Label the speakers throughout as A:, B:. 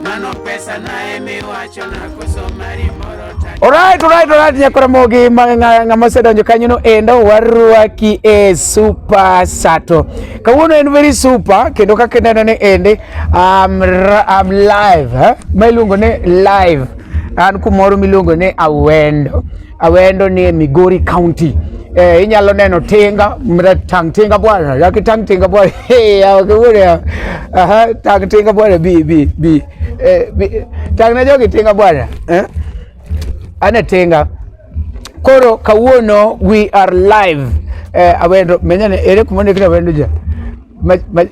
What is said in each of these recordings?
A: Mano pesa naye miwacho na koso mari moro ta. Alright,
B: alright, alright, nyakora mogi ng'ama osedonjo kanyono endo warwaki e super sato. Kawuono en very super kendo kaka ineno ni ende um, um, live, eh? Ma iluongo ni live. An kumoro miluongo ni awendo. Awendo ni e Migori County. Eh, inyalo neno tinga mra tang tinga bwana yaki tang tinga bwana hey yawa kewore aha tang tinga bwana bi bi bi eh, bi tang na jogi tinga bwana eh? ane tinga koro kawuono we are live eh, awendo menyane ere kumone kina awendo ja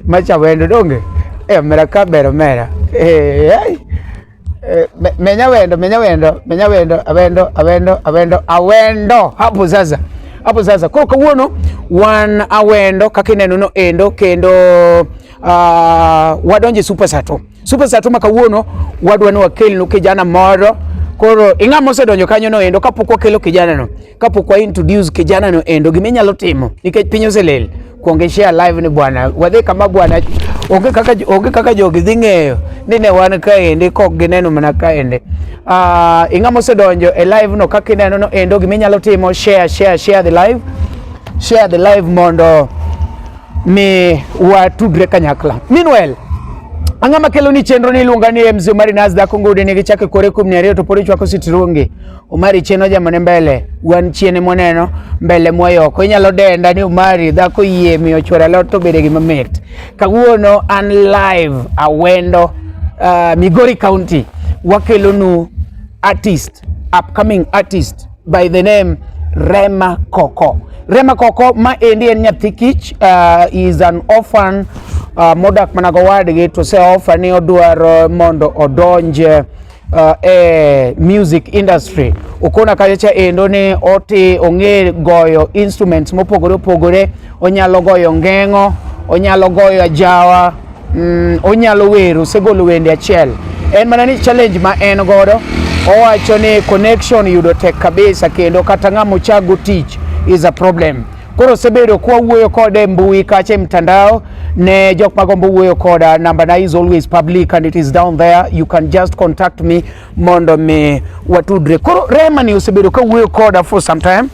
B: macha awendo donge eh, mera ka bero mera eh, eh. Eh, me- menya wendo menya wendo menya wendo awendo awendo awendo awendo hapo sasa hapo sasa koro kawuono wan awendo kaka ineno no endo kendo uh, wadonje super sato super sato ma kawuono wadwa ni wakelnu kijana moro koro ing'a mosedonjo kanyo no endo kapok wakelo kijana no kapok wa introduce kijana no endo gima inyalo timo nikech piny oselel kuonge share live ni bwana wadhi kama bwana onge kaka onge kaka jogi dhi ng'eyo ni ne wan kaendi kok gineno mana kaendi uh, ah, ing'ama osedonjo e live no kaka ineno no endo gima inyalo timo share share share the live share the live mondo mi watudre kanyakla meanwhile ang'ama kelo ni chenro ni iluonga ni mzee Omari Nas dhako ngudi ni gichake kore kum ni ariyo to pori chwako sitirungi Omari chien ojamone mbele wan chien moneno mbele mwayoko inyalo denda ni Omari dhako yie miyo chwore alot to bede gima mit kawuono an live awendo uh, Migori County wakelonu artist upcoming artist by the name Rema Koko Rema Koko ma endi en nyathi kich uh, is an orphan uh, modak mana gowadgi to se offer ni odwaro mondo odonje uh, e music industry ukona kacha endo ni oti ong'e goyo instruments mopogore opogore onyalo goyo ng'eng'o onyalo goyo ajawa mm, onyalo wero osegolo wende achiel en mana ni challenge ma en godo owacho ni connection yudo tek kabisa kendo kata ng'ama ochago tich is a problem Koro osebedo kwa wuoyo kode e mbui kacha e mtandao ne jok magombo wuoyo koda number na is always public and it is down there you can just contact me mondo mi watudre. Koro Rema ni osebedo ka wuoyo koda for some time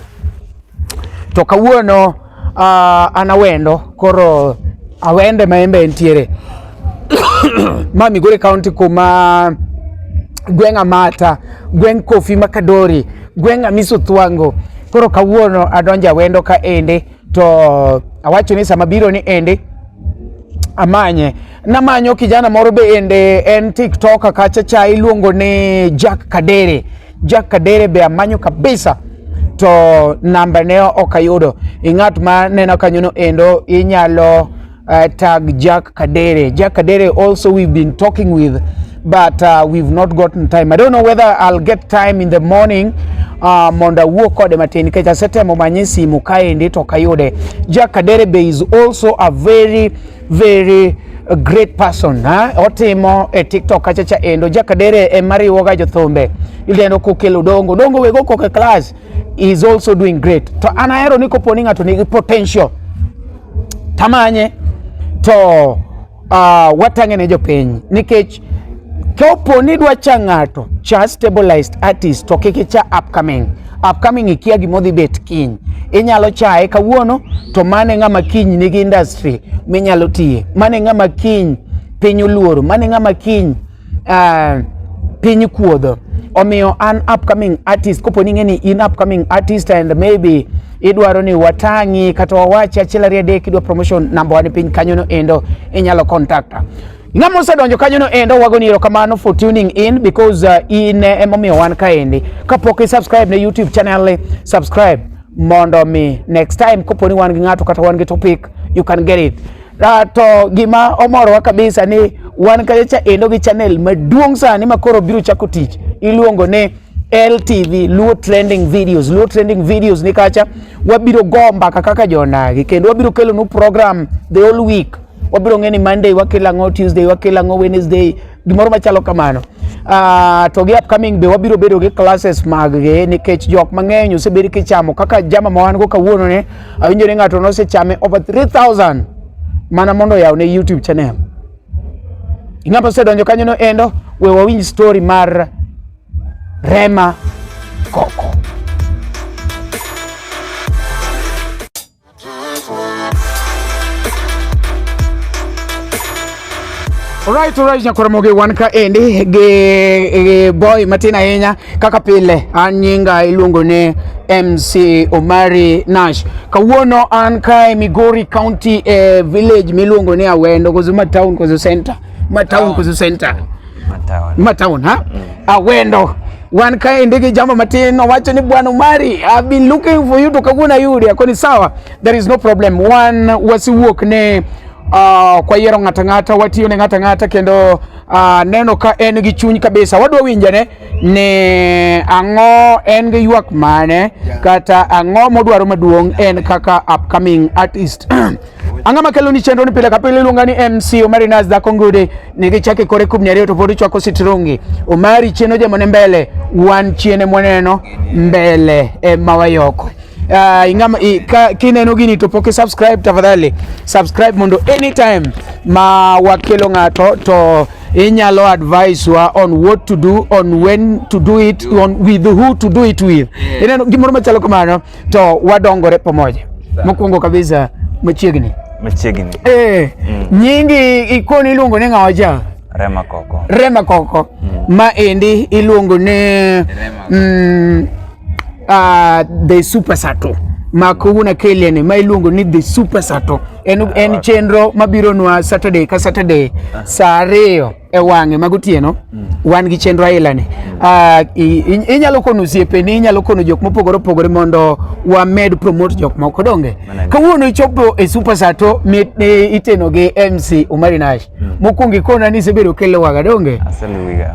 B: to kawuono uh, an awendo koro awende ma embe entiere ma Migori County kuma gweng' Amata gweng' Kofi Makadori Gweng' Amiso Thwango. Koro kawuono adonja wendo ka ende to awacho ni sama biro ni ende amanye namanyo kijana moro be ende en tiktok kacha cha iluongo ni Jack Kadere. Jack Kadere be amanyo kabisa to namba ne ok ayudo. Ing'at ma neno kanyono endo inyalo Uh, tag Jack Kadere. Jack Kadere also we've been talking with but uh, we've not gotten time. I don't know whether I'll get time in the morning uh, mondo awuo kode matin nikech asetemo manye simu kaendi to kayude. Jack Kadere be is also a very very a great person ha? otimo e TikTok kacha cha endo Jack Kadere e mariwoga jothumbe ilendo kokelo dongo dongo wego koke class is also doing great to an ahero ni koponi ng'ato nigi potential tamanye to uh, watang'e ne jopiny nikech kopo ni dwa cha ng'ato cha stabilized artist to kik icha upcoming upcoming ikia gima odhi bet kiny inyalo chaye kawuono to mane ng'ama kiny nigi industry minyalo tiye mane ng'ama kiny piny oluoro mane ng'ama kiny uh, piny kuodho omiyo an upcoming artist kopo ni ng'eni in upcoming artist and maybe idwaro ni watang'i kata wawachi achiel ariyo adek idwa promotion namba wan piny kanyono endo inyalo contacta ng'ama osedonjo kanyono endo wagoni erokamano for tuning in because uh, in eh, emomiyo wan kaendi kapok i subscribe ne youtube channel eh, subscribe mondo mi next time kopo ni wan gi ng'ato kata wan gi topic you can get it Uh, to gima omorowa kabisa ni wan kayo cha endo gi channel maduong' sani ma koro biro chako tich iluongo ni LTV Luo Trending Videos. Luo Trending Videos ni kacha wabiro go mbaka kaka jonagi kendo wabiro kelo nu program the whole week. Wabiro ng'eni Monday wakelo ang'o, Tuesday wakelo ang'o, Wednesday gimoro machalo kamano Uh, to gi upcoming be wabiro bedo gi classes mag gi nikech jok mang'eny osebedo kichamo kaka jama ma wan go kawuono ne awinjo ni ng'ato nosechame over 3000 mana mondo oyaw ne YouTube channel ing'ama osedonjo kanyo no endo we wawinj story mar Rema Koko Alright, alright, nyakwaramoge wan ka endi gi, gi boy matin ahinya kaka pile an nyinga iluongo ni MC Omari Nash. Kawuono an kae Migori County eh, village miluongo ni Awendo, koso ma town koso center, ma town koso center. Mataon ha? Mm. Awendo. Wan kaendi gi jambo matin owacho ni Bwana Umari, I've been looking for you to kaguna yudi akoni sawa. There is no problem. Wan wasiwuok ne uh, kwa yiero ng'ata ng'ata watiyo ne ng'ata ng'ata kendo uh, neno ka en gi chuny kabisa wadwa winjane ni ang'o en gi ywak mane yeah. kata ang'o modwaro maduong' en kaka upcoming artist Anga makelo ni chenro ni pile ka pile iluonga ni MC Omari Nas dhako ngude ni gichake kore kubni ariyo to podi chwako sitrungi Omari chieno jamone mbele wan chiene mwaneno mbele e mawayoko Uh, ah, ingama, i, ka, kineno gini to poke subscribe tafadhali subscribe mondo anytime ma wakelo ng'ato to inyalo advise wa on what to do on when to do it on with who to do it with yeah. ineno gimoro machalo kamano to wadongore pamoja. Mokwongo kabisa machiegni machiegni eh, mm. nyingi ikoni iluongo ni ng'awa ja Rema Koko, Rema Koko mm. ma endi iluongo ni mm, uh, the super sato ma kawuono keliani ma iluongo ni the super sato en, en chenro mabiro nwa Saturday ka Saturday saa ariyo e wang'e mag otieno mm. wan gi chenro ailani mm. ah, inyalo kono osiepeni inyalo kono jok mopogore opogore mondo wamed promote jok moko donge kawuono ichopo e super sato iteno gi mc umari nash mm. mokwongo ikona ni isebedo kiluwaga donge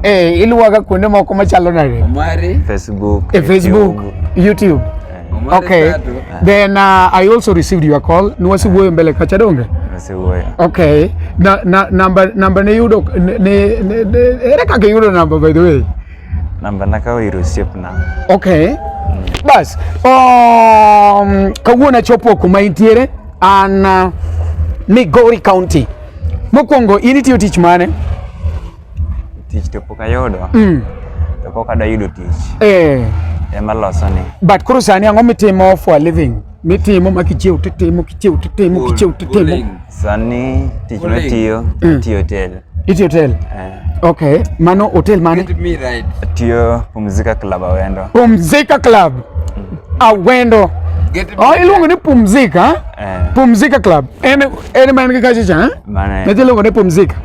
B: eh, iluwaga kuonde moko machalo nade
C: e facebook
B: youtube Okay. Then uh, I also received your call. Nwasi uh, wuoyo mbele kacha donge? Nwasi wuoyo. Okay. Na, na, number, number ne yudo, ne, ne, ne, ere kaka yudo number by the way? Number na
C: kawo iru siep na. Okay.
B: Mm. Bas, um, kawuono achopo kuma intiere an uh, Migori County. Mokwongo in itiyo tich mane?
C: tich to pok ayudo mm. to pok adwa yudo tich eh. ema loso ni but koro sani ang'o mitimo
B: for a living mitimo ma kichiew titimo kichiew titimo kichiew titimo
C: sani tich matiyo mm. tiyo hotel itiyo hotel
B: eh. okay mano hotel mane tiyo
C: pumzika club awendo pumzika club
B: mm. awendo Oh, iluongo ni pumzika eh. pumzika club en ene man ka kacha cha na jelo ne
C: pumzika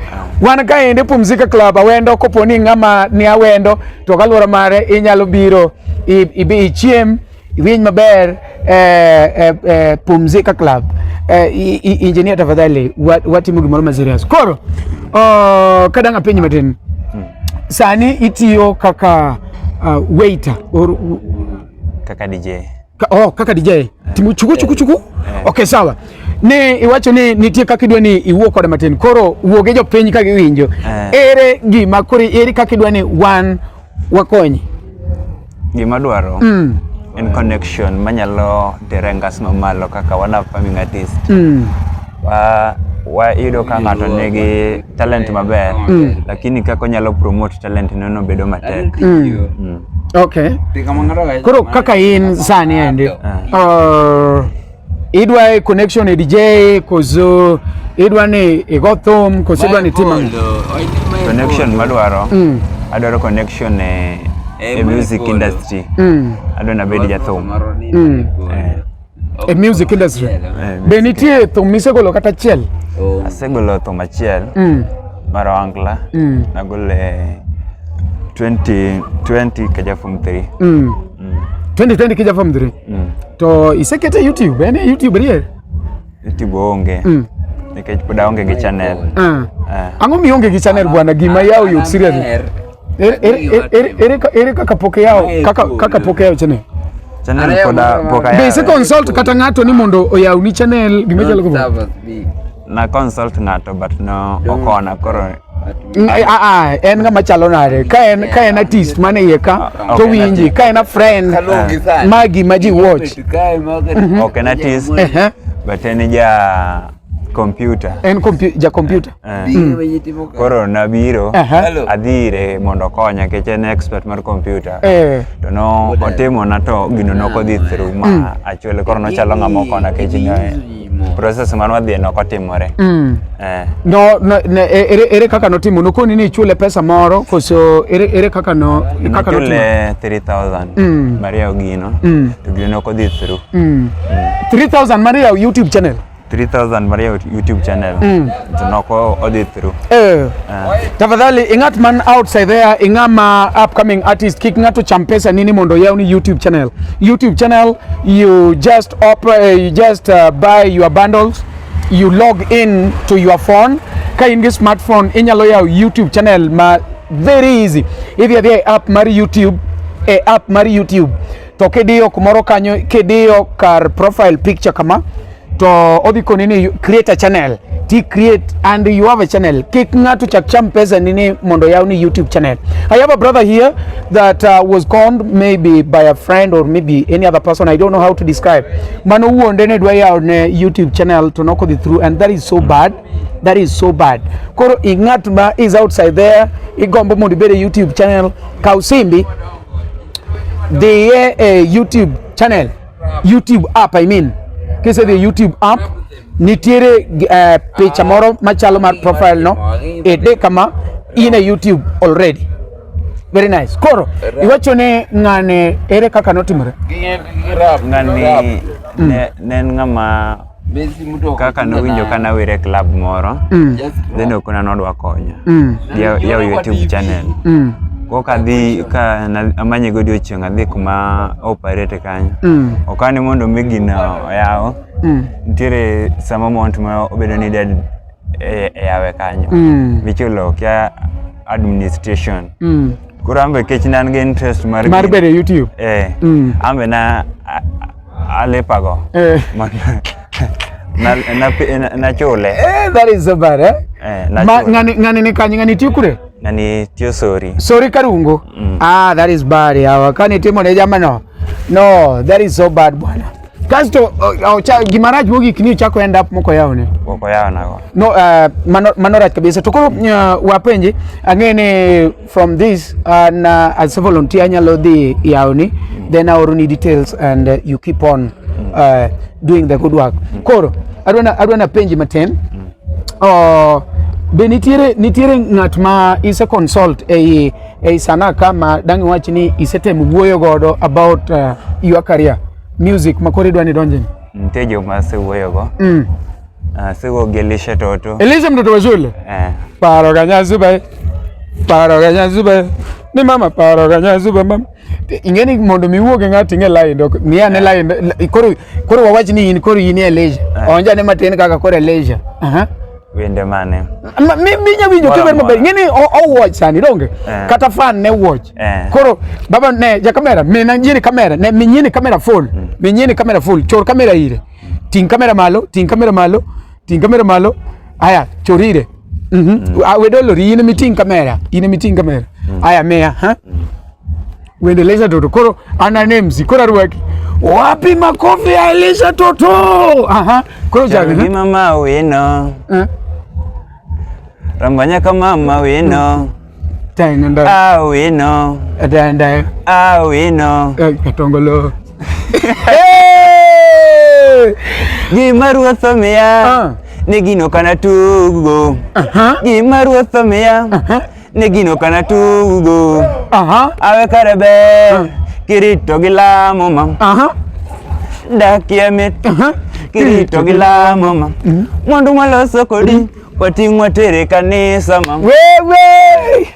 B: wan ka ende pumzika club awendo kopo ni ng'ama ni awendo to kaluwore mare inyalo biro ibi ichiem iwinj maber eh, eh, eh, pumzika club eh, injinia tafadhali watimo gimoro ma serious koro oh, kadang' apiny matin hmm. sani itiyo kaka uh, waiter or kaka
C: DJ Ka, oh, kaka DJ.
B: Eh. Timu chuku chuku chuku. Eh. Okay, sawa. Ne iwacho ni nitie kaka idwa ni iwuo koda matin. Koro wuo gi jopiny ka giwinjo. Eh. Ere gima koro ere kaka idwa ni wan wakonyi.
C: Gima dwaro. Mm. En connection manyalo terengas mamalo kaka wana farming artist. Mm. wa wayudo ka ng'ato nigi talent maber Mm. lakini kaka onyalo promote talent neno bedo matek Mm. mm.
B: Okay. Koro kaka in sani endi uh, idwa connection e DJ koso idwa ni igo thum koso idwa ni tim ang'o? connection
C: madwaro Mm. adwaro connection e, e music industry Mm. adwa nabed jathum Mm. Eh.
B: e music industry Eh, be nitie
C: thum
B: misegolo kata achiel Oh, asegolo thum achiel
C: Mm,
B: mar
C: oangla mm, nagolo e 2020 kaja form 3
B: mm. 2020 kija form 3 Mm. to isekete e youtube en e youtube rier youtube
C: onge Mm. nikech pod aonge gi channel Ah. Eh. ang'o
B: mionge gi channel bwana gima yaw yot seriously Amer, ere kaka poke yao kaka poke yao channel channel poda
C: poka yao be se consult
B: kata
C: ngato
B: ni mondo oyaw ni channel gima chalo ko na
C: consult ngato but no okona koro mm, ah, ah, ah,
B: en ngama chalo nade ka en ka en artist mane iye ka to winji ka en a friend magi ma ji watch okay
C: na artist but en ja Computer. En kompu- ja kompyuta. Eh. Biro
B: wenye timo
C: ka. Koro nabiro Aha. Hello. adhi ire mondo okonya nikech en expert mar computer. Eh. To no otimona to gino nok odhi through ma achuole koro nochalo ng'ama okona nikech ne process mane wadhiye nok otimore. Mm. Eh. No,
B: no, ne, e- ere, ere kaka notimo nokoni ni ichule pesa moro koso ere, ere kaka no kaka notimo Nachule 3000 Mm.
C: Maria Ogino Mm. to gino nok odhi through.
B: mm. 3000 mar yawo youtube channel 3000 mar
C: YouTube channel. Mm. Tunako odhi through. Eh. Uh.
B: Tafadhali ingat man outside there ingama upcoming artist kik ngato cham pesa nini mondo yawni YouTube channel. YouTube channel you just open, uh, eh, you just uh, buy your bundles you log in to your phone ka in gi smartphone inyalo yawo YouTube channel ma very easy. Idhi adhi e app mar YouTube e app mar YouTube to kidiyo kumoro kanyo kidiyo kar profile picture kama to odhi koni ni create a channel ti create and you have a channel kik ng'ato chak cham pesa nini mondo yaw ni youtube channel i have a brother here that uh, was conned maybe by a friend or maybe any other person i don't know how to describe mano wuonde ne dwa yaw ne youtube channel to nokodhi through and that is so bad that is so bad koro ing'at ma is outside there igombo mondo ibed e youtube channel kaw simbi dhiye e YouTube channel, YouTube app I mean. Kise dhi YouTube app nitiere uh, picha moro machalo mar profile no ede kama in a YouTube already. Very nice. Koro iwacho ne ng'ane ere kaka notimore? Ng'ani
C: ne en ng'ama kaka nowinjo ka nawere e club moro mm. then okona nodwa konya mm. yawo youtube channel mm. koka dhi ka amanye go odiochieng' adhi kuma operate kanyo okane mondo mi gina oyawo nitiere sama mount ma obedo ni dead e, e yawe kanyo michulo kia administration koro ambe kech nan gi interest mar mar bedo youtube
B: eh ambe na
C: Alipago. Eh. Man- na- na- na- Nachule. Eh, that is so bad,
B: eh? Eh, Ma- nachule. ng'ani ng'ani ni kanye ng'ani tiyo kure Na ni tiyo
C: sori. sori karungo
B: ah that is bad yawa kani timo ne jamano no that is so bad bwana kasto uh, uh, cha, gimarach mogik ni chako end up moko yawne Wako yao nago. no
C: uh, mano,
B: mano rach kabisa to koro uh, wapenji ang'e ni From this, uh, na, as a volunteer, anyalo dhi yawni, mm. then aoroni details and uh, you keep on mm. uh, doing the good work. Mm. Koro, adwana, adwana penji matin. Mm. Uh, be nitiere, nitiere ng'at ma ise consult ei, ei sana kama dangi wachi ni ise tem wuoyo godo about uh, your career, music, makori dwani donjeni? Nitejo ma se
C: wuoyo go. Mm. Ah, sikuogelesha toto. Elisha mtoto wa shule. Eh.
B: Paro kanyazuba. Eh. Paro kanyazuba. Eh. Ni mama paro kanyazuba eh, mama. Ingeni mondo miwuog ng'ati ng'e lai dok. Ni ane lai koro koro wawach ni in koro in Elisha. Onja ne matin kaka koro Elisha. Aha. Wende
C: mane? Mi mi nya winjo
B: kiber maber. Ngeni o watch sani donge. Kata fan ne watch. Koro baba ne ja kamera, mina nyini kamera, ne minyini kamera full. Mm. Minyini kamera full. Chor kamera ire. Ting kamera malo, ting kamera malo, ting kamera malo. Haya, chorire. Mhm. Mm ah, we dolo ri ine ting kamera, ine ting kamera. Mm. Haya mea, ha? Mm. Uendeleza toto. Koro ana names, kora ruwaki. Wapi makofi ya Elisha toto? Aha. Koro jaga. Ni mama wino.
C: Eh? Rambanya kama mama wino. Mm.
B: Awino.
C: Atanda.
B: Awino.
C: Katongolo. Gima ruoth omiya. Ah. Ne gino kana tugo. Gima ruoth omiya. Ne gino kana tugo. Awe kare ber. Ah. Kirito gi lamo ma. Dakie mit. Kirito gi lamo ma. Mm-hmm. Mwandu mwaloso kodi. Mm-hmm. Watingwa tere kanisa mama. Wewe.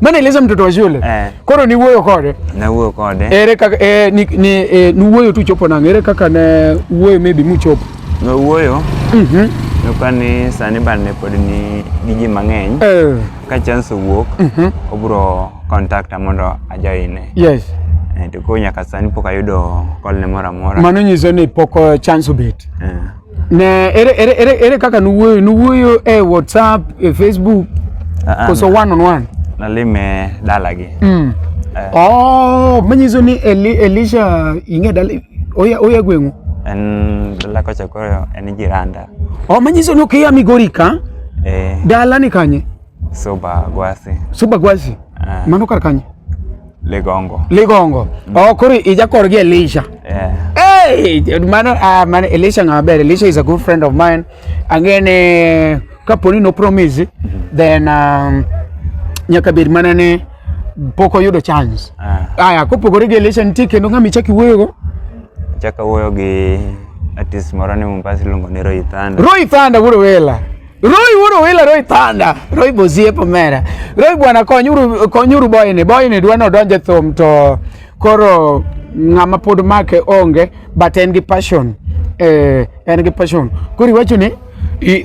B: Mana eleza mtoto wa shule. Eh. Koro ni wuoyo kode. Na wuoyo kode.
C: Ere kaka eh, ni
B: ni eh, ni wuoyo tu chopo nang. Ere kaka ne wuoyo maybe mu chopo. Na wuoyo. Mhm. Mm
C: Nuka ni sani ban ne pod ni giji mang'eny. Eh. Ka chance wuok. Mhm. Mm obro contact mondo ajoine. Yes.
B: Eh, to ko nyaka
C: sani pok ayudo call ne moro amora. Mano nyiso ni pok
B: eh, chance obet. Eh. Ne, ere, ere, ere, ere kaka nuwuoyo? Nuwuoyo e WhatsApp, e Facebook, Ah, ah, koso one on one? nalime
C: dalagi Mm. Eh. Oh,
B: manyiso ni Eli, Elisha ing'e dala oya oya gweng'u. en dala
C: kocha koro en jiranda Oh, manyiso ni okia
B: Migori ka eh, dala ni kanye? Suba
C: gwasi. Suba gwasi. Ah. Mano kar
B: kanye? Ligongo. Ligongo. Mm. Oh, kuri ija kor gi Elisha. Yeah. Hey, mano ah man Elisha ng'a ber. Elisha is a good friend of mine. Angene kaponi no promise mm-hmm. then um, nyaka bed mana ne pok oyudo chance. Ah. Aya, kopogore gi Elisha nitie kendo ng'ama ichaki wuoyogo? Chaka wuoyo
C: gi artist moro ni Mombasa iluongo ni Roy Thunder. Roy Thunder wuod
B: wela. Roy wuoro wila Roy Thunder, Roy Bosiep omera. Roy bwana konyuru konyuru boyni, boyni dwa no donje thum to koro ng'ama pod make onge but en gi passion. Eh, en gi passion. Koro iwacho ni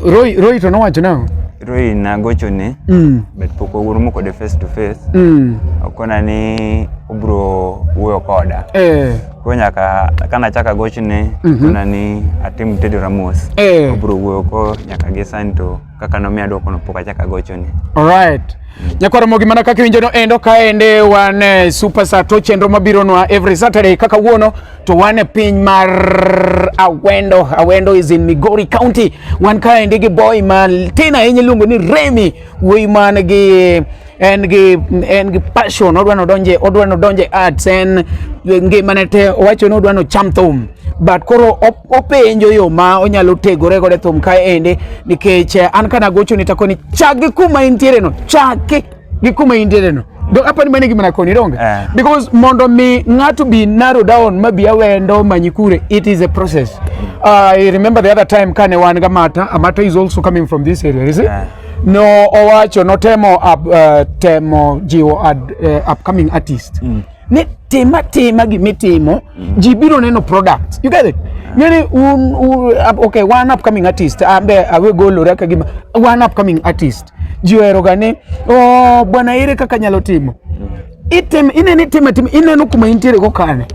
B: Roy Roy to nowacho nang'o? Roy nagocho
C: ne mm. but pok wawuoyo kode face to face mm. okona ni obro wuoyo koda eh. Koro nyaka ka nachaka gochne Mhm. kona ni atim Teddy Ramos. Eh. Obro wuoyo ko nyaka gi sani to kaka nomiya dwoko no pok achaka gochone. Alright.
B: Nyakwar Mogi mana kaka iwinjo no endo kaende wan eh, Super Sat to chenro mabironwa every Saturday kaka wuono to wan e piny mar Awendo. Awendo is in Migori County. Wan kaende gi boy ma tin ahinya iluongo ni Remy wuoyi man gi en gi en gi passion odwa ni odonje odwa ni odonje arts en ngimane te owacho ni odwa ni ocham thum but koro op- openjo yo ma onyalo tegore godo e thum ka ende nikech eh, an kana gocho ni takoni chak gi kuma intiere no chake gi kuma intiere no do apani mane gima nakoni donge Eh. because mondo mi ng'ato be narrow down ma bi awendo manyi kure it is a process uh, i remember the other time kane wan ga mata amata is also coming from this area is it Yeah. No owacho notemo up, uh, eh, temo jiwo ad, uh, upcoming artist mm. ni tima tima gimitimo mm. ji biro neno product you get it ngeni un, un okay one upcoming artist ambe awe golora ka gima one upcoming artist ji oheroga ni oh, bwana ere kaka nyalo timo mm. Item ine ni tema tim ine no kuma intire go kane.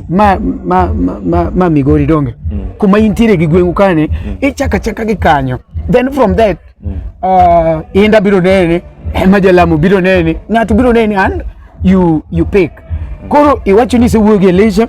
B: Ma ma ma ma, ma migori donge. Kuma intire gi gwengu kane ichaka chaka gi kanyo. Then from that uh, inda biro nene ema jalamo biro nene ng'ato biro nene and you you pick. Koro iwacho ni isewuoyo gi Elisha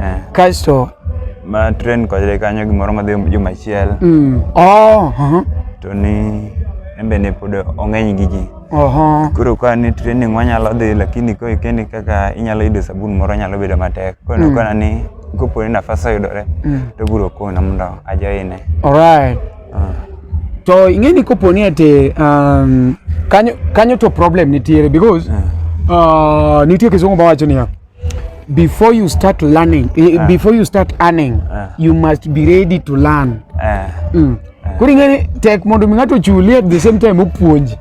C: Eh. Kasto
B: ma
C: train konyre kanyo gimoro madhi juma achiel. Mm. Oh, uh -huh. To ni embe ne pod ong'eny gi ji. Oho. Koro ka ni training wanyalo dhi lakini ko ikendi kaka inyalo yudo sabun moro nyalo bedo matek. Koro mm. kona ni kopo ni nafas oyudore mm. to biro kona mondo ajoine. Alright. Uh. Ah.
B: To ing'eni kopo ni ati um, kanyo, kanyo to problem nitiere because uh. Uh, nitie kisungu mawacho niya before you start learning eh, ah. before you start earning ah. you must be ready to learn ah. mm. koro ing'eni tek mondo mi ng'ato ochuli at the same time opuonji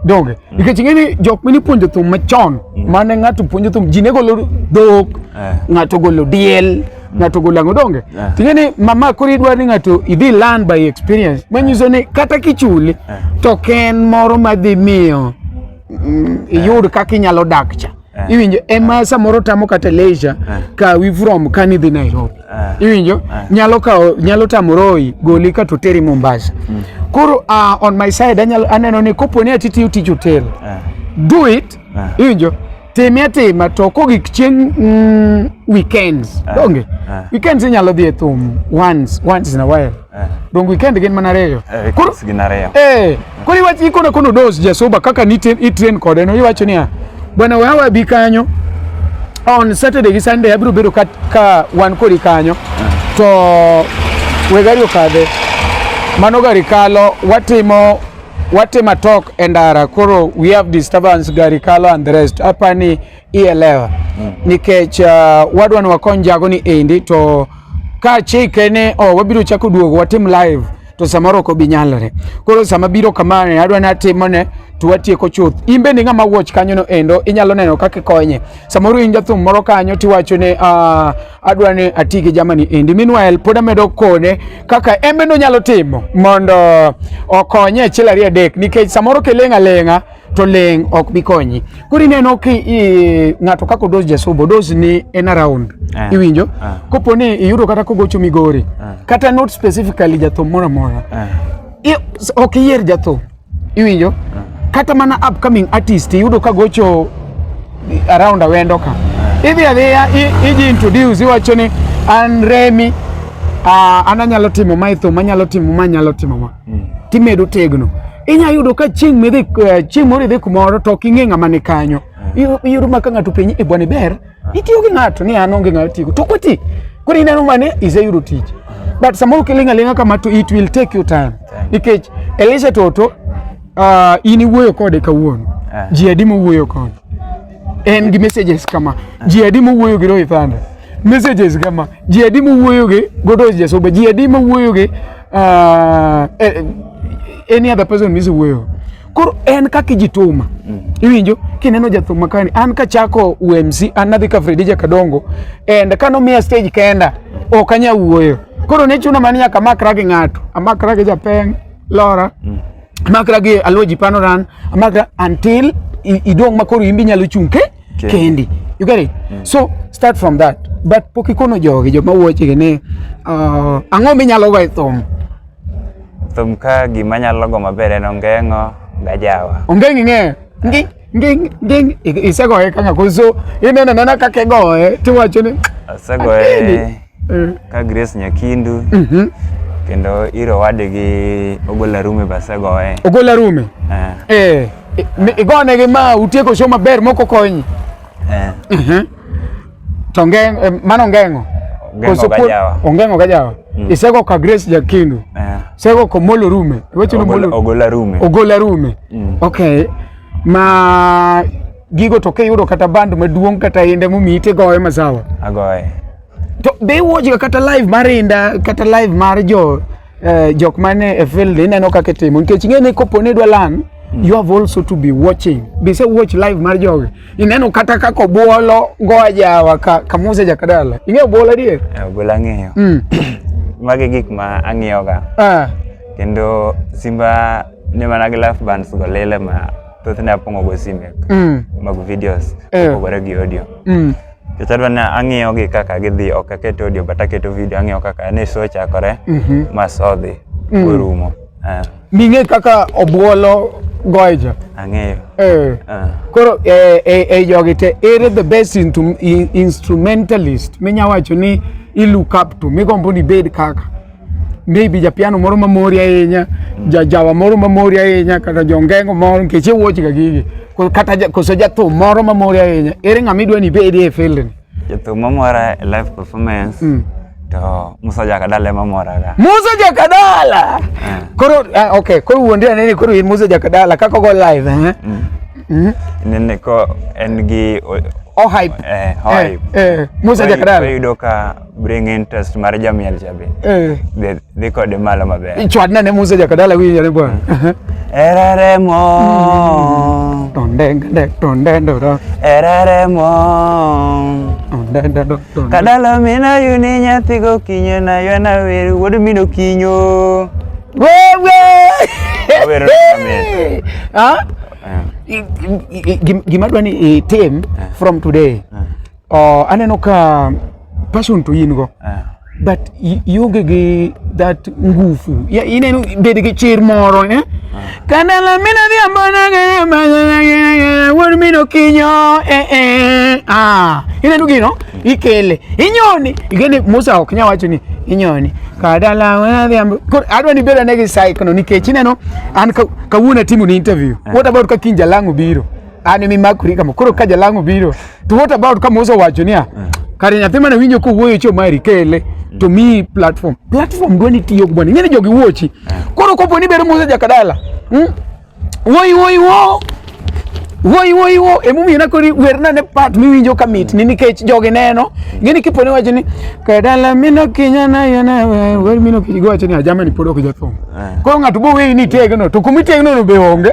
B: donge
C: mm. nikech ing'eni
B: jok mini puonjo thum machon mm. mane ng'ato puonjo thum ji ne golo dhok eh. ng'ato golo diel mm. ng'ato golo ang'o donge eh. ting'eni mama koro idwaro ni ng'ato idhi learn by experience manyiso ni kata kichuli to ken moro madhi miyo iyud kaka inyalo dak cha Eh. iwinjo ema eh. samoro tamo kata leisure eh. kawi from kani dhi Nairobi iwinjo nyalo kawo nyalo tamo royi goli ka to teri Mombasa mm. koro ah, on my side anyalo aneno ni kopo ni atitiyo tij hotel do it iwinjo time atima to kogik chieng mm, weekends donge weekends inyalo dhi e thum once once in a while Eh. Dongo ikend gin mana reyo. Eh, koro gin ariyo.
C: Eh, koro iwach
B: ikona kono dos jasuba kaka ni train kode no iwacho niya bwana wewe wabi kanyo on Saturday gi Sunday abiro bedo ka, ka wan kodi kanyo eh. to we gari okadhe mano gari kalo watimo watimo talk e ndara koro we have disturbance gari kalo and the rest apani ielewa mm. nikech uh, wadwa ni wakony jago ni endi to ka chike ni oh, wabiro chako duogo watim live to samoro ok obi nyalore. Koro sama biro kama ne adwa ni atimone to watieko chuth. In bende ng'ama watch kanyo no endo inyalo neno kaka ikonye. Samoro in jathum moro kanyo tiwacho ni uh, adwa ni ati gi jamani endi. Meanwhile pod amedo kone kaka embe no nyalo timo mondo okonye achiel ariyo adek nikech samoro kiling' aling'a to leng ok bi konyi koro ineno ki ng'ato kaka odos jasubo odos ni en around uh, iwinjo uh, eh. kopo ni iyudo kata kogocho migori uh, kata not specifically jathum moro amora uh, ok iyier jathum iwinjo uh, kata mana upcoming artist iyudo ka gocho around awendo ka uh, idhi adhiya iji introduce iwacho ni an remi uh, an anyalo timo ma e thum anyalo timo ma anyalo timo ma mm. timedo tegno inya yudo ka chieng' midhi eh, chieng' moro idhi kumoro to ok ing'e ng'ama ni kanyo Iyo- iyudo ma ka ng'ato penyi e bwana ber itiyo gi ng'ato ni an onge ng'ama tigo to kwati koro ineno mane iseyudo tich but samoro kiling' aling'a kama to it will take you time nikech elisha toto ah, in iwuoyo kode kawuono Ah. ji adi mowuoyo kode en gi messages kama ji adi mowuoyo gi rohithanda messages kama ji adi mowuoyo gi godos jasoba ji adi mowuoyo gi uh, any other person misi wuoyo koro en kaka ijituma mm. iwinjo kineno jathum makani an kachako UMC an nadhi ka Fredija Kadongo and kanomiya stage kenda ok anya wuoyo koro ne chuno mani nyaka amakra gi ng'ato amakra gi japeng lora mm. amakra gi aluoji panoran amakra until idong' ma koro imbi nyalo chung' ke Kendi. Kendi. You get it? Mm. So start from that. But pok ikono jogi joma wuoche gini uh, ang'o minyalo go e thum?
C: Thum ka gima nyalo go maber en ongeng'o gajawa. Ongeng'o ing'eyo?
B: Ngi ngi ngi isegoye kaka koso ineno nena kaka igoye tiwacho ni asegoye.
C: mm. ka Grace Nyakindu mm -hmm. kendo iro wadgi Ogola Rume basegoye. Ogola Rume.
B: Eh. Eh, eh igone gi ma utieko show maber moko konyi. Eh. Uh mhm. -huh. To ngeng eh, mano ngengo. Ngengo gajawa. Ongengo gajawa. Mm. Isego ka Grace Nyakindu. Eh. Sego ko Molo Rume. Weche no Molo. Ogola Rume. Ogola Rume. Mm. Okay. Ma gigo to kiyudo kata band maduong' kata inda momiyi tigoye masawa agoye
C: to be
B: iwuochga kata live mar inda kata live mar jo eh, jok mane e field ineno kaka itimo nikech ing'e ni kopo ni idwa lan mm. you have also to be watching be se watch live mar jogi ineno kata kaka obuolo goa jawa ka kamusa jakadala ing'e obuolo adier eh, obuolo ang'eyo mm.
C: magi gik ma ang'iyoga ah. kendo simba ne mana gi live bands go lele ma thothne apongo go sime mm. mag videos eh. opogore gi audio mm. Kichadwa na ang'iyo gi kaka gidhi ok aket audio but aketo video ang'iyo kaka ne show chakore mm -hmm. mas odhi mm. orumo uh. Ming'e
B: kaka obuolo goja ang'eyo
C: eh. uh.
B: koro eh, eh, eh, jogi te ere the best into, in, instrumentalist minya wacho ni i look up to migombo ni bed kaka maybe japiano moro mamori ahinya jajawa moro mamori ahinya kata jongengo moro nikech iwuochga gigi kata koso jathum moro mamori ahinya ere ng'ama idwa ni ibedi e field ni jathum mamora
C: e live performance mm. to Musa Jakadala ema moraga. Musa Jakadala.
B: Eh. Koro uh, okay, koro wuondre nene koro in Musa Jakadala kaka go live eh. Mm. Mm.
C: Nene ko en gi o, o hype.
B: Eh, hype. Eh, eh. Musa Jakadala. Yudo ka
C: bring interest mar jamiel cha be eh. dhi dhi kode malo maber chwadna ne musa jakadala
B: winjo ne bwana ereremo
C: tondende
B: tondendo do ereremo
C: tondendo do kadala mina yuni nyathi go kinyo na yona weru wuod mino kinyo wewe
B: awero ha eh. gima dwani itim eh. from today eh. Oh, aneno ka passion to in go. Eh. But i- ionge gi that nguvu. Ya ineno bed gi chir moro eh? Kana la mina vya mbona gana mbona gana wor mino kinyo eh eh ah ineno gino ikele inyoni igene Musa ok nya wacho ni inyoni kada la wena vya mbo- kor adwa ni beda ne gi cycle no nikech ineno an ka- kawuono atimo ni interview what about ka kinja langu biro an emi makuri kama koro ka jalango biro to what about kama uso wacho niya kare nyathi mane winjo kowuoyo cho mari kele to mi platform platform dwa ni tiyo bwana ing'eni jogi wuochi koro kopo ni bero musa jakadala hmm? woi woi wo woi woi wo emomiyo nakori werna ne part miwinjo ka mit ni nikech jogi neno ing'eni kipo ni wacho ni kadala mino kinya nayo na we- wer mino kinya giwacho ni ajama ni pod ok jathum Eh. koro ng'ato boweyi ni itegno to kumitegno no be onge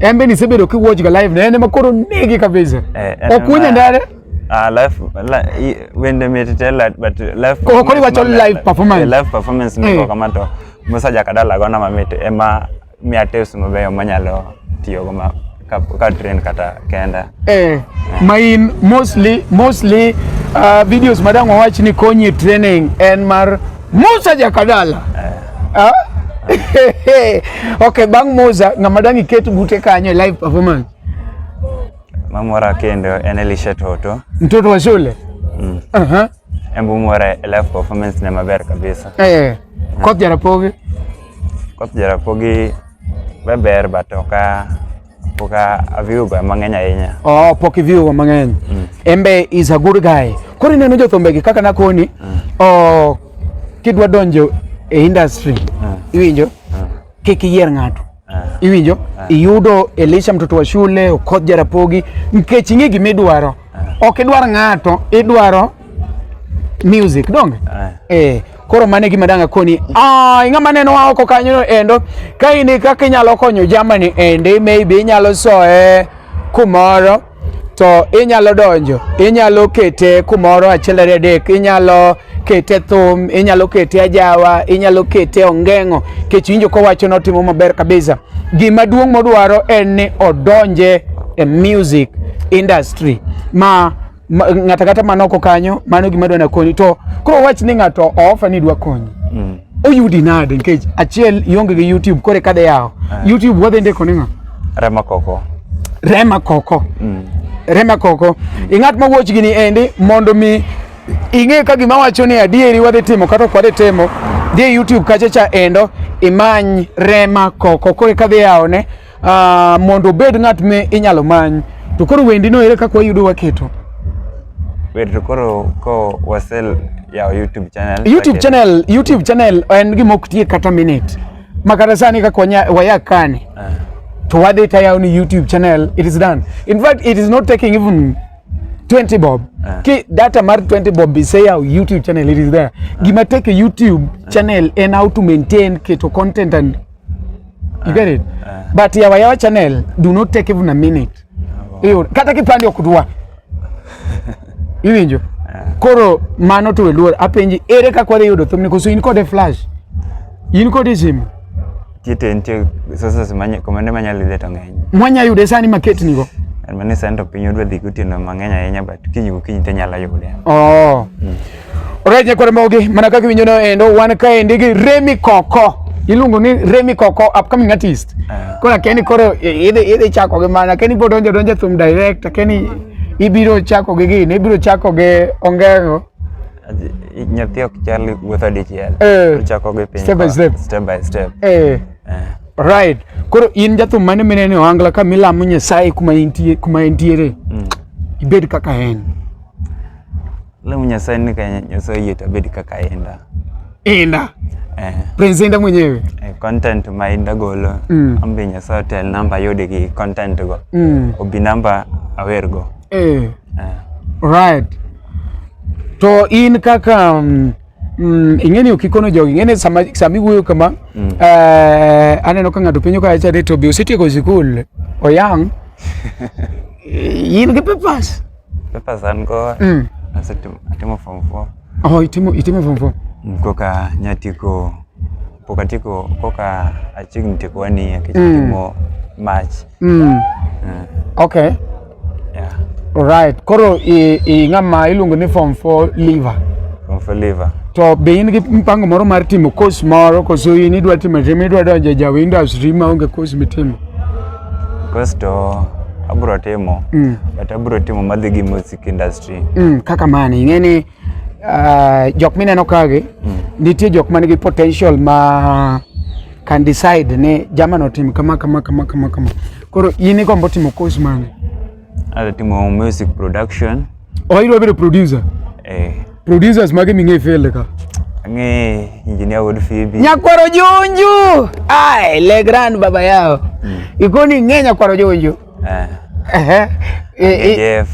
B: En be nisebedo kiwatch ga live ne en ema koro negi kabisa. Eh, en Ok winje ema- ndare. Ah, live, li, i-
C: wende mit te la- but live Ko- ko performance iwacho maber. live
B: performance. Eh, live performance Eh. niko
C: kama to Musa Jakadala gona mamit ema miya tips mabeyo manyalo tiyogo ma ka, ka train kata kenda. Eh, ma in
B: mostly mostly uh, videos madang wawach ni konyi e training en mar Musa Jakadala eh. ah? okay, bang Musa ng'ama dang iket bute kanyo e live performance?
C: Mamora kendo en Elisha Toto. Mtoto wa shule? Mm.
B: Uh -huh.
C: Embu mwara e live performance ne maber kabisa. Eh. eh. Koth
B: Jarapogi? Koth
C: Jarapogi beber but oka Pok aviwo ga mang'eny ahinya. Oh, pok iviwo ga
B: mang'eny. Mm. Embe is a good guy. Koro ineno jothumbe gi kaka nakoni, mm. oh, kidwa donjo e industry, mm. iwinjo, mm. kik iyier ng'ato. Mm. Iwinjo, mm. iyudo Elisha mtoto wa shule, Okoth Jarapogi, nikech ing'e gima idwaro. Mm. Ok idwar ng'ato, idwaro music donge? Mm. Eh. Koro mane gima danga koni. Ah, ing'ama neno wa oko kanyo endo. Ka in kaka inyalo konyo jamani ende maybe inyalo soe kumoro to inyalo donjo, inyalo kete kumoro achiel ariyo adek, inyalo kete thum, inyalo kete ajawa, inyalo kete ongeng'o, kech winjo kowacho ni otimo maber kabisa. Gima duong' modwaro en ni odonje e music industry ma ng'ata kata man oko kanyo mano gima dwana konyi to koro wach ni ng'ato oofa ni dwa konyi mm. oyudi nade nikech achiel ionge gi youtube kore kadhe yawo ah. youtube wadhi ndiko ni ng'a rema koko rema koko mm. rema koko mm. ing'at ma wuoch gini endi mondo mi ing'e ka gima wacho ni adieri wadhi timo kata ok wadhi timo dhi e youtube kacha cha endo imany rema koko kore kadhi yawone uh, mondo obed ng'at me inyalo many to koro wendi no ere kaka wayudo waketo wer
C: to koro ko wasel yawo youtube channel youtube channel youtube
B: channel en gima ok tie kata minute ma kata sani kaka waya kani uh. Ah. to wadhi tayawo ni youtube channel it is done in fact it is not taking even 20 bob uh. ki data mar 20 bob be say our youtube channel it is there uh. gima take youtube uh. channel and how to maintain keto content and you get it uh, but yawa yawa channel do not take even a minute uh, iyo kata kipande ok dwa iwinjo uh, koro mano to weluor apenji ere kaka wadhi yudo thumni koso in kode flash in kode simu kite nitie
C: sources manye komende manyalo yude to ng'eny mwanya yude sani
B: maket nigo mane sani to piny
C: odwa dhi gotieno mang'eny ahinya but kiny gokinyi to inyalo yude oh. mm.
B: Alright, nyakwar mogi, mana kaka winjo no endo, wan ka endi gi Remy Koko. Iluongo ni Remy Koko, upcoming artist. Uh. Kora Kenny koro idhi idhi chako gi mana, Kenny bo donjo donjo thum direct, Kenny ibiro chako gi gini, ibiro chako gi Ongengo.
C: Nyathi ok chal wuotho dichiel. Eh. Chako gi piny. Step by step. Step by step. Eh. Eh.
B: Right. Koro in jathum mane mineno Ohangla ka milamo Nyasaye kuma intie kuma entiere. Mm. Ibed kaka en.
C: Leo Nyasaye ni kanya Nyasaye yetu abedi kaka enda. Enda.
B: Eh. Prince enda mwenyewe. Eh, content ma
C: enda golo. Mm. Ambe Nyasaye tel namba yode gi content go. Mm. Obi namba awer go. Eh. Eh.
B: Right. To in kaka um, Mm, ing'eni ok ikono jogi ing'eni sama sama iwuoyo kama mm. eh, aneno ka ng'ato penjo kacha de to be osetieko sikul oyang in gi papers Papers an go
C: Mm. asetimo atimo form 4 Oh, itimo itimo form
B: four. koka
C: nyatieko pok atieko koka achiegni tieko one year nikech Mm. atimo March. Mm.
B: Eh, Okay.
C: yeah. Alright.
B: Koro i, i ng'ama iluongo ni form 4 liver. Form 4 liver. To be in gi mpango moro mar timo course moro koso in idwa timo timo idwa donjo e jaw industry ma onge course mitimo?
C: Course to abro timo mm. but abro timo madhi gi music industry mm, kaka mani ing'e
B: ni uh, jok mineno kagi mm. nitie jok man gi potential ma can decide ni jamano tim kama kama kama kama kama koro in igombo timo course mane Hata timu
C: ya music production. Oh, hilo vile
B: producer. Eh. Producers mage mingi fele ka. Nge
C: engineer would fibi. Nyakwaro Junju.
B: Ai, le grand baba yao. Mm. Ikoni nge Nyakwaro Junju. Eh. Eh. eh Jeff.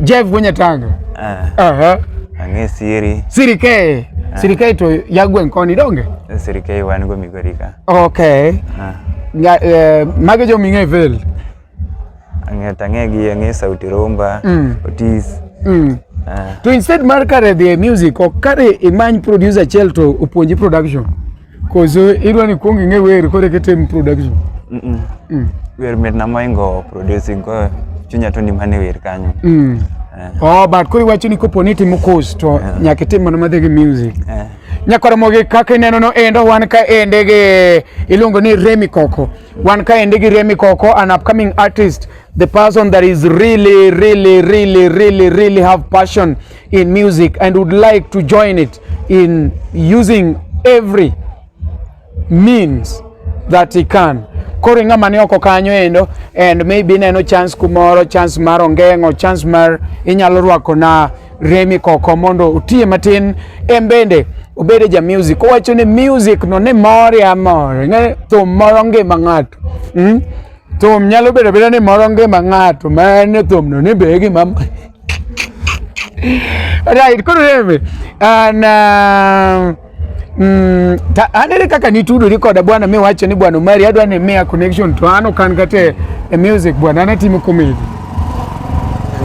B: Jeff kwenye tanga. Eh. Aha.
C: Nge Siri. Siri ke.
B: Eh. Siri ke to yagwe nkoni donge. Siri ke wani go
C: migorika. Okay. Ah.
B: Nga, eh, mage jo mingi fele. Ang'e tang'e gi
C: ang'e sauti rumba, Mm. Otis. Mm. Ah,
B: To instead mar kare dhi e music, ok kare imany producer achiel to opuonji production. Koso idwa ni kuong ing'e wer kore kitim production. mm, mm.
C: Mm. Wer mit na moingo producing ko chunya to ni mane wer kanyo. Mm. Eh, Oh,
B: but koro iwacho ni kopo ni itimo course to Yeah. nyaka itim mana madhi gi music. eh. Nyakoromogi kaka ineno no endo wan ka ende gi iluongo ni Remi Koko. Wan kaendi gi Remi Koko, an upcoming artist, the person that is really, really, really, really, really have passion in music and would like to join it in using every means that he can. Koro ng'ama ni oko kanyo endo and maybe neno chance kumoro, chance mar ongeng'o, chance mar inyalo rwako na Remi Koko mondo otiye matin en bende obede ja music owacho ni music no ne more amore ng'e thum moro ngima ng'ato mm? thum nyalo bedo beda ni moro ngima ng'ato ma en thum no ni be gima right koro remi an uh, Mm, ta, anere kaka nitudori koda bwana mi wacho ni bwana Omari adwa ni miya connection to an ok an kata e, e music bwana an atimo comedy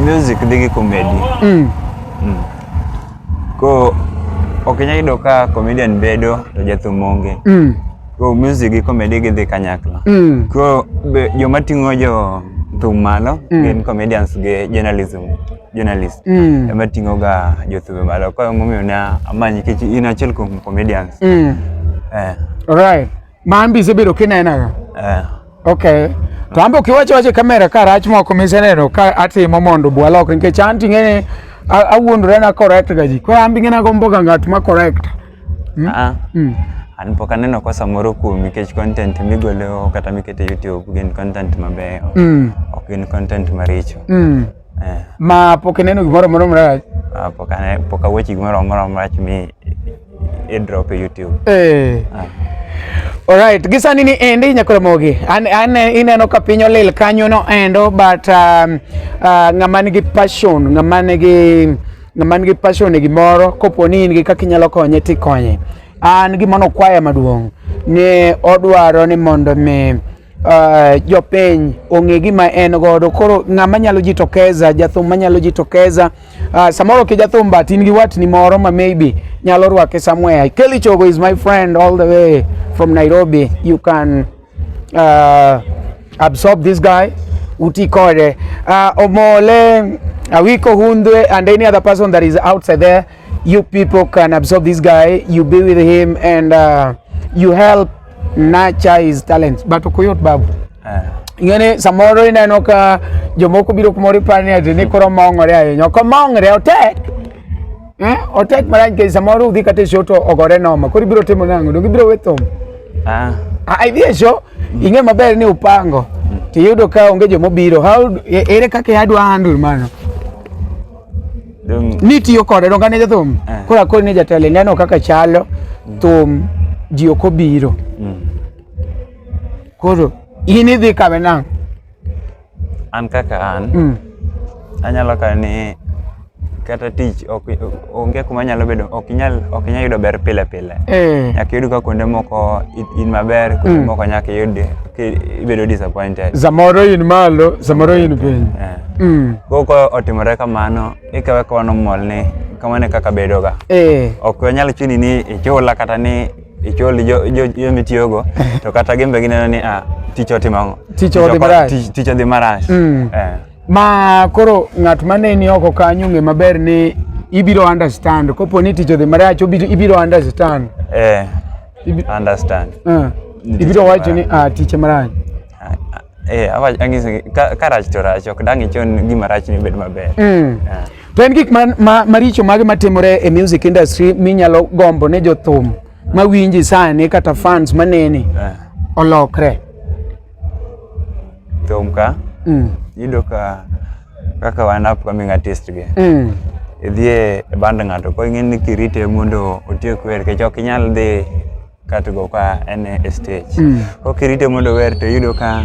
C: music dhi gi comedy mm. Mm. ko ok inyal yudo ka comedian bedo to jathum onge mm. ko music gi comedy gidhi kanyakla mm. ko joma ting'o jo thum malo mm. gin comedians gi journalism journalist mm. ema tingo ga jothumbe malo kwa momiyo ne amanyi kech in achiel kuom comedians mm. eh.
B: right mambi isebedo kinenaga eh. okay to ambe ukiwacho wacho kamera ka rach moko miseneno ka atimo mondo bwalok nikech an ting'eni awuondore na correct ga ji koro ambi ng'ena gombo ga ng'at ma correct mm? ah. mm.
C: an pok aneno kwa samoro kuom nikech content migolo kata mikete youtube gin content mabeyo mm. ok gin content maricho mm. eh. ma
B: pok ineno gimoro moro marach ah, pok ane pok
C: aweche gimoro moro marach mi e drop e YouTube eh ah. Alright,
B: gisani ni endi Nyakoromogi. An, an ineno ka piny olil kanyo no endo but um, uh, ng'ama nigi passion, ng'ama nigi ng'ama nigi passion e gimoro kopo ni in gi kaka inyalo konye tikonye. An gima nokwaya maduong' ne odwaro ni mondo mi Uh, jopiny ong'e gima en godo koro ng'ama nyalo jitokeza jathum manyalo jitokeza uh, samoro ki jathum but in gi watni moro ma maybe nyalo rwake somewhere Kelly Chogo is my friend all the way from Nairobi you can uh, absorb this guy uti kode uh, omole awiko hundwe and any other person that is outside there you people can absorb this guy you be with him and uh, you help Nature is talent. But okuyot babu. Eh. Ing'eni samoro ineno ka jomoko biro kumoro iparo ni ati ni koro mong'ore ahinya. Ok omong're otek. Eh? Otek marach nikech samoro udhi kata e show to ogore noma. Koro ibiro timo nang'o? Donge ibiro we thum? Ah. Ah, idhi e show, mm. ing'e maber ni upango. Mm. Tiyudo ka onge jomobiro. How, e, ere kaka adwa handle mano? ni tiyo kode donga ne jathum eh. kora kori ni jatelo ineno kaka chalo mm. thum ji ok obiro mm. koro in idhi kame nang'
C: an kaka an mm. anyalo kawe ni kata tich onge kuma nyalo bedo ok inyal ok inyal yudo ber pile pile eh. nyaka yud ka kuonde moko in maber kuonde moko nyaka yud ibedo disappointed samoro in malo
B: samoro in piny eh. mm. koro ka
C: otimore kamano ikawe ka wano mol ni kamano e kaka bedoga eh. ok wanyal chuni ni ichula kata ni ichul jo mitiyogo to kata gin be gineno ni ah, tich otimo ang'o
B: tich odhi
C: marach mm. eh.
B: ma koro ng'at maneni oko kanyo ng'e maber ni ibiro understand kopo ni tich odhi marach ibiro understand eh,
C: understand uh,
B: ibiro wacho ni ah, tich marach Eh, awach ang'isi
C: ka, ka rach to rach ok dang' ichon gima rach ni bed maber. Mm. Ah. To en
B: gik ma, ma, maricho mage matimore e music industry minyalo gombo ne jothum mawinji sani kata fans maneni Ah. olokre.
C: Thum ka Mm. yudo ka kaka wan upcoming artist gi. Mm. Idhi e band ng'ato ko ing'e ni kirite mondo otiek wer kech ok inyal dhi kato go ka en e stage mm. kokirite mondo wer to yudo ka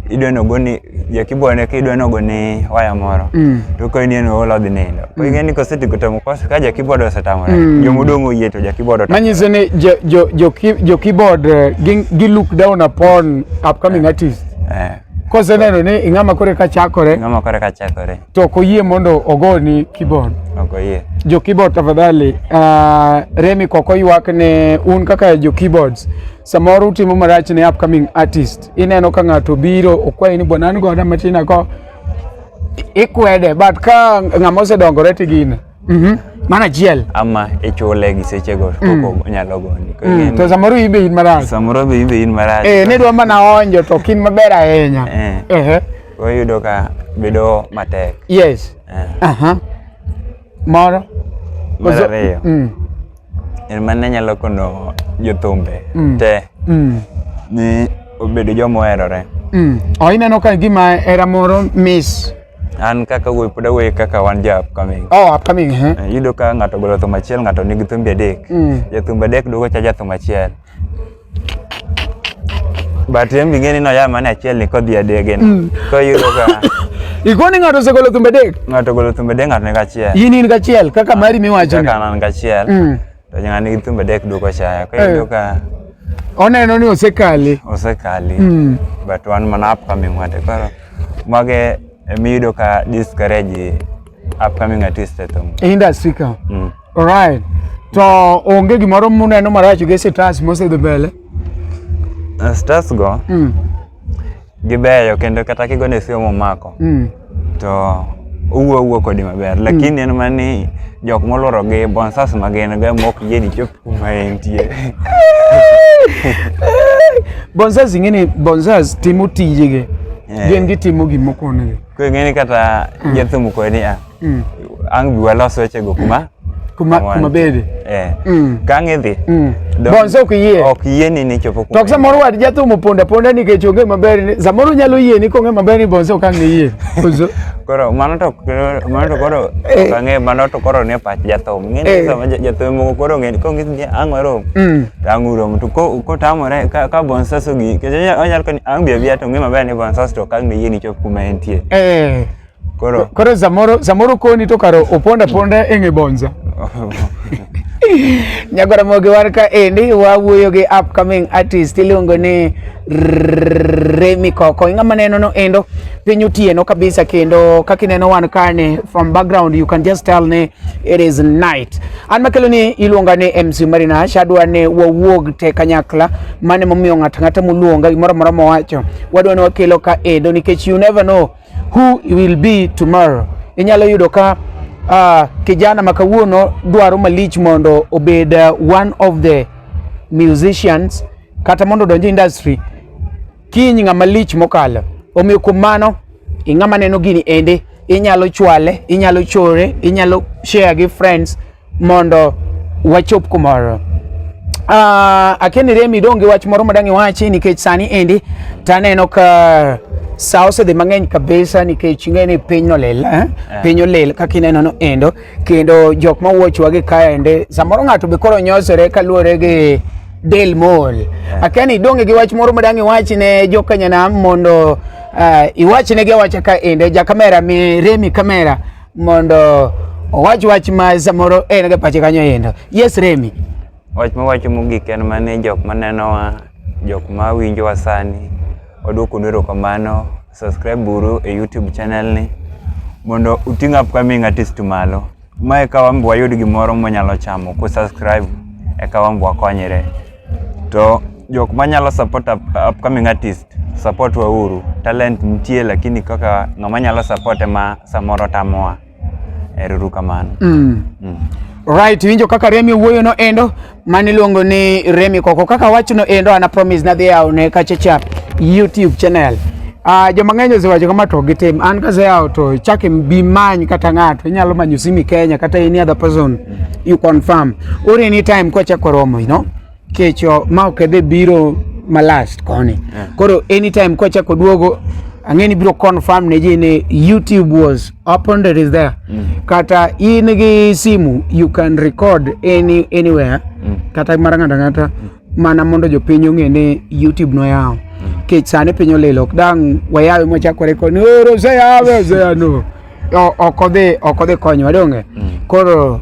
C: idwa nogo ni jakibone ka idwa nogo ni waya moro mm. to ka in eno olo dhi nindo mm. ing'e ni kosetigo to mkosa ka jakibod osetamore mm. jomodong' oyie to jakibod otamore manyiso ni
B: jokibod eh, gi look down upon upcoming eh. artist eh. koseneno ni ing'ama kore ka chakore ing'ama kore ka chakore to ok oyie mondo ogoni keyboard. Ok oyie. Jo
C: keyboard tafadhali,
B: uh, Remi kok oywak ne un kaka jo keyboards. Samoro utimo marach ne upcoming artist. Ineno ka ng'ato biro okwayi ni bwana an goda matin ako ikwede but ka ng'ama osedongore tigine Mhm. Mana achiel. ama ichule
C: gi sechego Mm. koko onyalo goni Koro Mm, ing'eni, To samoro in be in
B: marach. samoro be in be in marach Eh, ne dwa mana onjo to ok in maber ahinya. Eh. Ehe. Koro
C: iyudo ka bedo matek Yes. Eh.
B: Aha. Moro. Mar Ozo- ariyo.
C: Mm. en mane nyalo kono jothumbe Mm. te Mm. ni obedo joma oherore Mm. Oh, ineno
B: ka gima era moro miss An kaka
C: wuoyi pod awuoyi kaka wan ja upcoming. Oh, upcoming eh. Eh, Iyudo ka ng'ato ogolo thum achiel ng'ato nigi thumbe adek. Mm. Jathumbe adek duogo cha jathum achiel. But en bing'e ni noya mana achiel ni kodhi adege ni. Koro iyudo ka Ikoni ng'ato
B: osegolo thumbe dek. ng'ato ogolo thumbe adek ng'ato
C: nigi achiel. In in gachiel kaka
B: mari miwacho ni. Kaka an an gachiel.
C: Mm. To ng'ani gi thumbe dek duoko chaya. Koro iyudo ka Oneno
B: ni osekale. osekali. Mm.
C: But wan mana upcoming wate. Koro mage emiyudo ka discourage upcoming artist e thum. E industry ka. Mm.
B: Alright. To onge gimoro muneno marach gi sitas mosedhi mbele. Uh,
C: Stars go Mm. Gibeyo kendo kata kigone simu omako. Mm. To owuo owuo kodi maber mm. lakini en mani jok molworo gi bonsas ma gin go mok yie ni chop kuma entie
B: bonsas ing'e ni bonsas timo tijegi eh. gin gitimo gimoko onegi ko ing'e ni kata
C: mm. jathum kodi a ah, mm. ang' bi walos wechego kuma kuma Awan. kuma
B: bede eh mm. kang'
C: idhi mm. bonse ok
B: yie ok yie
C: ni nichopo kuma to samoro wad jathum
B: oponda ponda nikech onge maber ni samoro nyalo yie ni kong'e maber ni bonse ok ang' ne yie koro
C: mano to mano to koro eh. ok ang'e mano to koro ne pach jathum ng'e ni eh. sama jathum moko koro ng'e kong' ni ang' warom mm. to ang' urom to kotamore ka, ka bonses ogi kech onyalo koni ang' bi abiya to ng'e maber ni bonses to ok ang' ne yie nichop kuma entie eh. Koro
B: koro samoro samoro koni to karo oponda ponda e ng'e bonza. Nyagora mogi war ka endi wawuoyo gi upcoming artist iluongo ni Remi Koko. Ing'ama neno no endo piny otieno kabisa kendo kaka ineno wan kane from background you can just tell ni it is night. An makelo ni iluonga ni MC Marina shadwa ni wawuog te kanyakla mane momiyo ng'at ng'ata muluonga gimoro moro mowacho wadwa ni wakelo ka endo nikech you never know Who will be tomorrow? Inyalo yudo ka uh, kijana makawuono dwaro malich mondo obed uh, one of the musicians kata mondo odonj industry kiny ng'ama lich mokalo. Omiyo kuom mano ing'ama neno gini ende inyalo chwale, inyalo chore, inyalo share gi friends mondo wachop kumoro uh, ah, akeni remi donge wach moro madang' iwachi nikech sani endi taneno ka sa osedhi mang'eny kabisa nikech ing'e ni piny nolil eh? yeah. piny olil kaka ineno no endo kendo jok ma wuochwa gi kaende samoro ng'ato be koro nyosore kaluwore gi del mol yeah. akeni donge gi wach moro madang' iwachi ne jokanyanam mondo uh, iwachnegi awacha ka ende ja kamera mi remi kamera mondo owach wach ma samoro en ga pache kanyo yendo yes remi wach ma wacho
C: mogik en mane jok ma nenowa jok ma winjowa sani wadwoko nero kamano subscribe buru e youtube channel ni mondo uting upcoming artist malo ma eka wambi wayud gimoro mwanyalo chamo ku subscribe eka wambi wakonyre to jok manyalo support up, upcoming artist Support wa uru. Talent nitie lakini kaka ng'ama nyalo support ma samoro tamoa. Eruru kamano. Mm. Mm.
B: Right, winjo kaka Remi wuoyo no endo mani luongo ni Remi Koko. Kaka wach no endo ana promise na dhia one kachecha YouTube channel. Ah, uh, joma ng'eny osewacho kama to gitim. An ka zao to chake bi many kata ng'ato inyalo manyo simi Kenya kata any other person you confirm. Ore any time kwa chako romo, you know. kecho ma okedhe biro ma last koni yeah. koro anytime kwachako duogo ang'eni biro confirm ne ji ni youtube was opened it is there mm. kata in gi simu you can record any, anywhere mm. kata mara ng'ata ng'ata mm. mana mondo jopiny ong'e ni youtube noyawo mm. kech sani piny olilo ok dang' wayawe mwachako rekod ni oro oseyawe oseyano ok odhi ok odhi konyowa donge mm. koro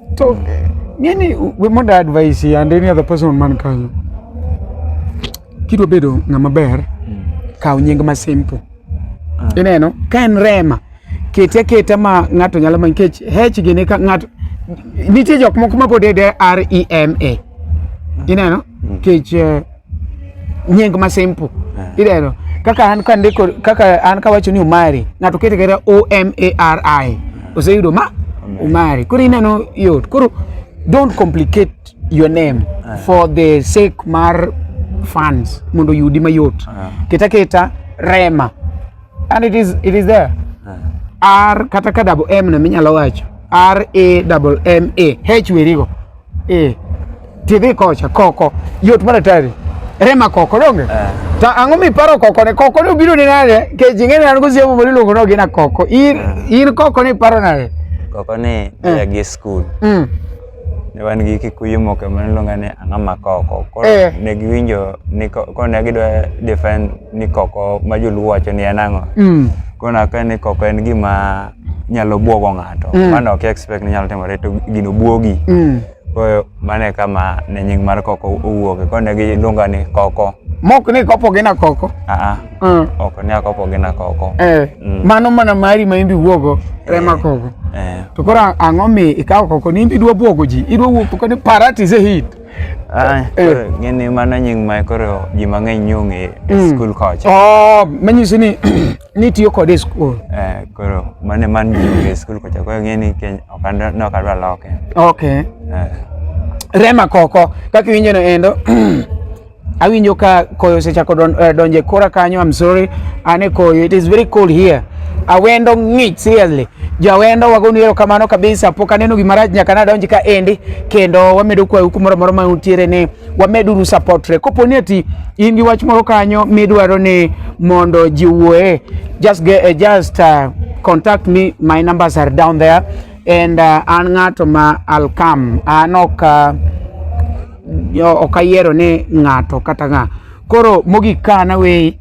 B: So, ng'eni we mondo advice ya and any other person man kanyo. Kidwa bedo ng'ama ber, kaw nying ma simple. Ineno, ka en Rema, kete aketa ma ng'ato nyalo manyo nikech H gini ka ng'ato nitie jok moko ma pod ede R E M A. Ineno? Nikech eh, nying ma simple eh. ideno kaka an ka ndiko kaka an ka wacho ni umari ng'ato kete kata o m a r i eh. oseyudo ma umari koro ineno yot koro don't complicate your name eh. for the sake mar fans mondo yudi mayot keta keta rema and it is it is there r kata ka double m na minyalo wacho r a double m a h werigo Eh. Tidhi kocha koko. Yot mana tari. Rema koko donge? Eh. Ta ang'o mi paro koko ne koko ne obiro ni nade? Ke jinge ne an go siemo bori luongo no gina koko. In eh. in koko ne paro nade? Koko ne
C: eh. ya gi school. Mm. Ne wan gi kikuyu moko ma niluonga ni ang'a ma koko. Koro eh. ne giwinjo ni koko ne gidwa defend ni koko ma joluo wacho ni en ang'o. Mm. Kona ka ni koko en gima nyalo buogo ng'ato mm. mano ok expect ni nyalo timore to gino buogi mm. koyo mane kama ne nying mar koko owuoke kone gi lunga ni koko mok ni kopo gina
B: koko aa mm. ok
C: ni akopo gina koko eh. mm. mano mana
B: mari ma imbi wuogo eh. rema koko eh. to koro ang'o mi ikawo koko ni imbi dwa buogo ji idwa wuotho kani parat is a hit Ah, eh.
C: ng'eni mano nying ma koro ji mang'eny nyong'e e mm. skul kocha oh, manyiso ni
B: nitiyo kode e skul eh, koro
C: mane man e skul kocha koro ng'e ni ne ok adwa loke ok eh.
B: rema koko kaka iwinjo no endo awinjo ka koyo osechako don, uh, donje kora kanyo i'm sorry ane koyo it is very cold here awendo ng'ich seriously jawendo wagonu ero kamano kabisa pok aneno gimarach nyaka nadonj ka endi kendo wamedo kwayo kumoro moro ma untiere ni wameduru supportre. Kopo ni ati in gi wach moro kanyo midwaro ni mondo ji wuoye, just get, uh, just uh, contact me, my numbers are down there and uh, an ng'ato ma I'll come. An ok uh, ok ayiero ni ng'ato kata ng'a. Koro mogik ka na we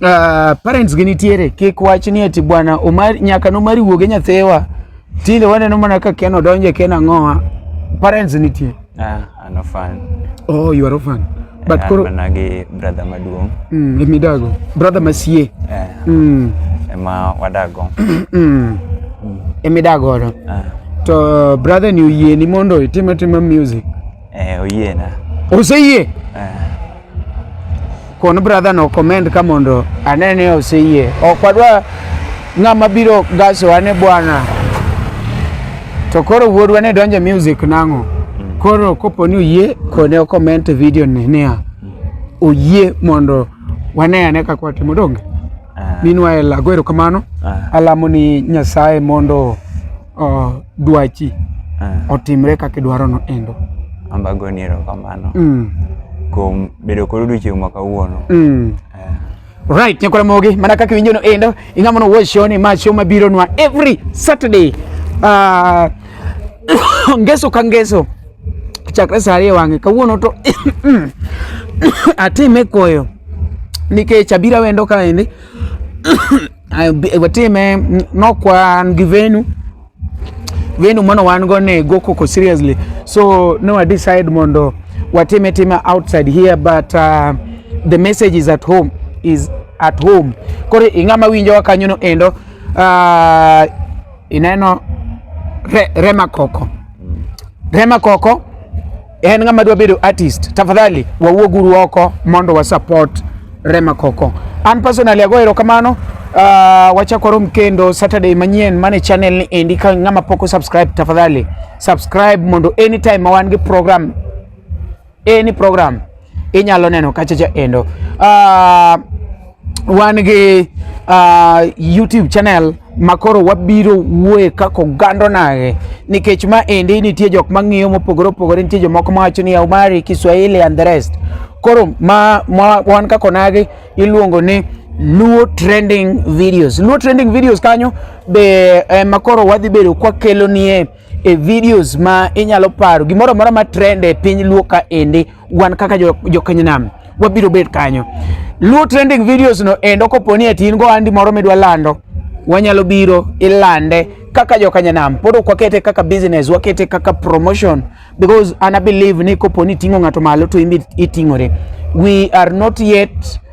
B: uh, parents gi nitiere kik wach ni ati bwana Omar nyaka nomari wuoge nyathewa tinde waneno mana ka Ken odonje Ken ang'owa parents nitie. Yeah. An orphan.
C: Oh, you are orphan.
B: But yeah, koro mana gi brother
C: maduong. Mm, let me dago.
B: Brother masie. Yeah. Mm.
C: Ema wadago. mm. Emi
B: dago ro. Ah. To brother ni uyie ni mondo itime time music. Eh, uyie na.
C: Oseyie. Eh.
B: Kon brother no comment ka mondo ane ni oseyie. Ok wadwa ng'ama biro gasowa ni bwana to koro wuodwa ne donje music nang'o mm. koro kopo ni oyie kone okoment video ni niya oyie mondo wane ane kaka watimo donge ah. minwa elago erokamano ah. alamo ni nyasaye mondo uh, dwachi uh, otimre kaka idwarono endo. Ambago ni
C: erokamano
B: mm.
C: kuom bedo kod odiochieng' ma kawuono mm.
B: uh. Right, nyakwara mogi mana kaka iwinjo no endo ing'ama no watch show ni ma show mabiro nwa every Saturday uh, ngeso ka ngeso chakre saa ariyo wang'e kawuono to atime koyo nikech abira wendo kaendi watime nok wan gi venu venu mano wan go ne go koko seriously so no I decide mondo watime time outside here but uh, the message is at home is at home koro ing'ama winjowa kanyono endo uh, ineno re, rema koko rema koko en ng'ama dwa bedo artist, tafadhali wawuoguru oko mondo wa support Rema Koko. An personally ago erokamano. Uh, ah, wachako rom kendo Saturday manyien mane channel ni endi. Ka ng'ama poko subscribe, tafadhali subscribe mondo anytime ma wan gi program any program inyalo neno kachacha endo uh, wan gi uh, YouTube channel makoro wabiro wuoye kaka ogando nage nikech ma endi nitie jok mang'iyo mopogore opogore nitie jomoko mawacho ni Omari Kiswahili and the rest koro ma, ma wan kaka onagi iluongo ni Luo trending videos. Luo trending videos kanyo be eh, makoro wadhi bedo kwa kelo nie e videos ma inyalo paro gimoro amora ma trend e piny luo ka ende wan kaka jokenynam jo wabiro bet kanyo luo trending videos no endo koponi ati in go andi moro midwa lando wanyalo biro ilande kaka jokanyanam pod ok wakete kaka business wakete kaka promotion because ana believe ni koponi ting'o ng'ato malo to imbi iting'ore we are not yet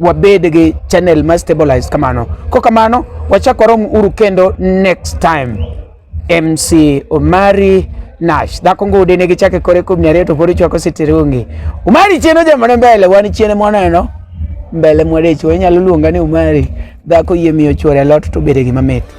B: wabed gi channel ma stabilized kamano. Ko kamano wachak warom uru kendo next time. MC Omari Nash dhako ngude ne gichake kore kuom nyare to pod chwako sitirungi. Omari chieno jamane mbele wan chiene mwaneno. Mbele mwadecho inyalo luonga ni Omari dhako yie miyo chwore lot to bede gima mit.